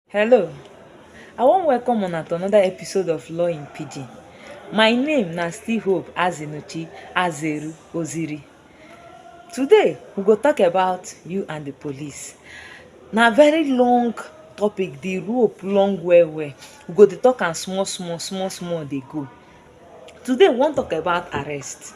Hello, I wan welcome una to another episode of Law in Pidgin. My name na still Hope Azinuchi Azeru Oziri. Today, we go talk about you and the police. Na very long topic, the rope long well well. We go dey talk am small small, small small dey go. Today we wan talk about arrest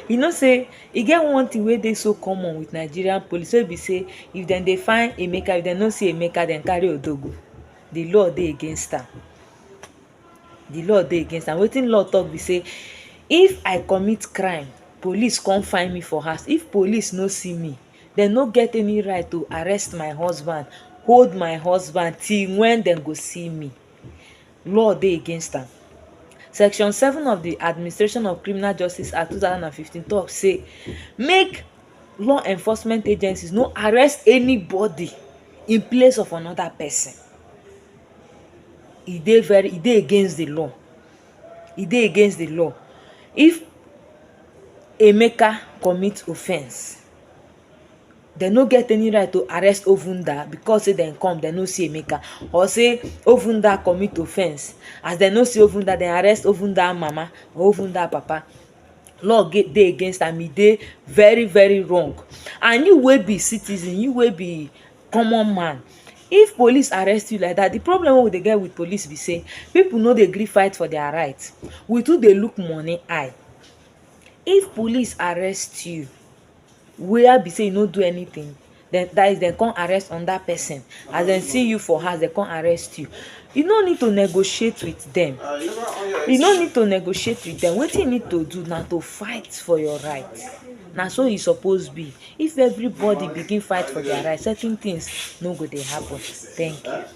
you know sey e get one thing wey dey so common with Nigerian police wey be sey if dem dey find Emeka if dem no see Emeka dem carry Odo go the law dey against am the law dey against am wetin law talk be sey if I commit crime police come find me for house if police no see me dem no get any right to arrest my husband hold my husband till when dem go see me law dey against am. Section seven of di Administration of Criminal Justice Act two thousand and fifteen tok say make law enforcement agencies no arrest anybody in place of another person. E dey very e dey against di law. E dey against di law. If Emeka commit offence, dem no get any right to arrest Ovunda because say dem come dem no see Emeka or say Ovunda commit offence as dem no see Ovunda dem arrest Ovunda mama or Ovunda papa law get dey against am e dey very very wrong and you wey be citizen you wey be common man if police arrest you like that the problem wey we dey get with police be say people no dey gree fight for their right we too dey look money eye if police arrest you where be sey you no do anything den dat is dem come arrest another person as dem see you for house dem come arrest you you no need to negotiate with dem you no need to negotiate with dem wetin you need to do na to fight for your right na so e suppose be if everybody begin fight for their right certain things no go dey happen thank you